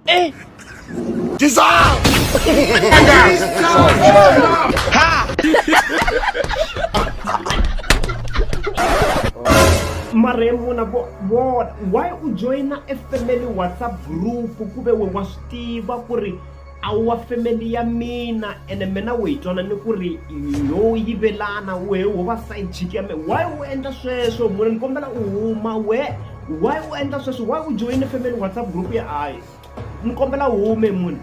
Eh! Dissolve! maremu na vona why u joyina e family whatsapp group ku ve we wa swi tiva ku ri a wu wa family ya mina ene mina u yi twana ni ku ri yo yivelana wehe wo va side chick ya me why u endla sweswo mune ni kombela u huma we why u endla sweswo why u joyine family whatsapp group ya ayi ni kombela u hume mune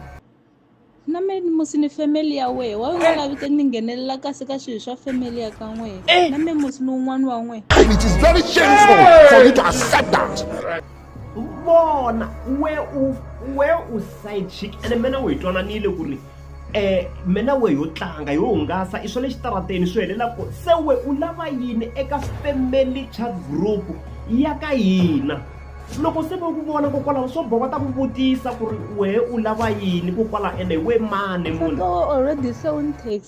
na me musi ni family ya wehe wa nga lavi te ni nghenelela kasi ka swilo swa family ya ka n'wehe na me musi ni wun'wana wa n'wehe and it is very shameful for you to accept that vona we u we u side chick ene mina u hi twananile ku ri um mina we yo tlanga yo hungasa i swa le xitarateni swi helela ku se we u lava yini eka family chat group ya ka hina loko se va ku vona kokwalaho swo boka ta ku vutisa ku ri wehe u lava yini kokwalaho ene we mani munhu already se u ni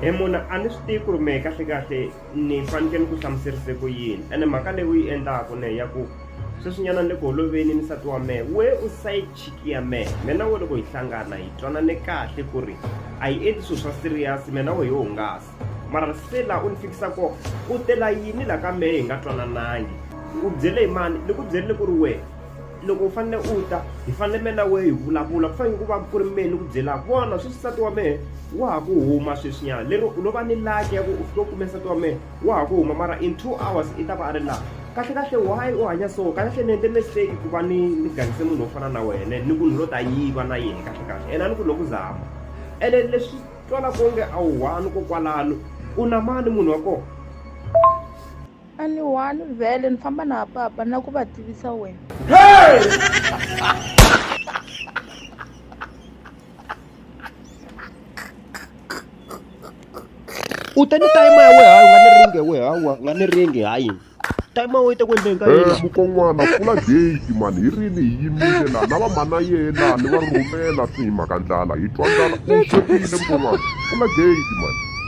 hi munhu a ni swi tivi ku ri mehe kahlekahle ni fanekele ni ku hlamuserise ku yini ene mhaka leyi u yi endlaku ne ya ku sweswinyana ni le ku holoveni ni nsati wa mehe we u side chick ya mehe mina wo loko hi hlangana hi twanane kahle ku ri a yi endli swilo swa serious mina wo hi hungasa mara se laha u ni fikisa ko u tela yini laha ka mehe hi nga twananangi u byele hi mani ni ku byerile ku ri wehe loko u fanele u ta hi fanele mina na wehe hi vulavula ku fanele ku va ku ri mehe ni ku byelaka vona sweswi nsati wa mehe wa ha ku huma sweswinyana lero no va ni laki ya ku u fike u kume nsati wa mehe wa ha ku huma mara in two hours i ta va a ri laha kahle kahle why u hanya so kahlekahle ni endle mistake ku va ni ni gangise munhu wo fana na wena ni ku ni lo ta yiva na yena kahlekahle ena ni ku loko zama ene leswi twalaka onge a wu one kokwalano u na mani munhu wa kona a ni one vhele ni famba na papa na ku va tivisa wena u ta ni tayima ya weha u nga ni ringe weha u nga ni ringe hayi tayima wo yi ta ku endleni ka Eh, yini mukon'wana pfula gate mani hi rini hi yimile la na vamhana yena ni va rhumela swi hi mhaka ndlala hi twa ndlala u swekile mukon'wana pfula gate mani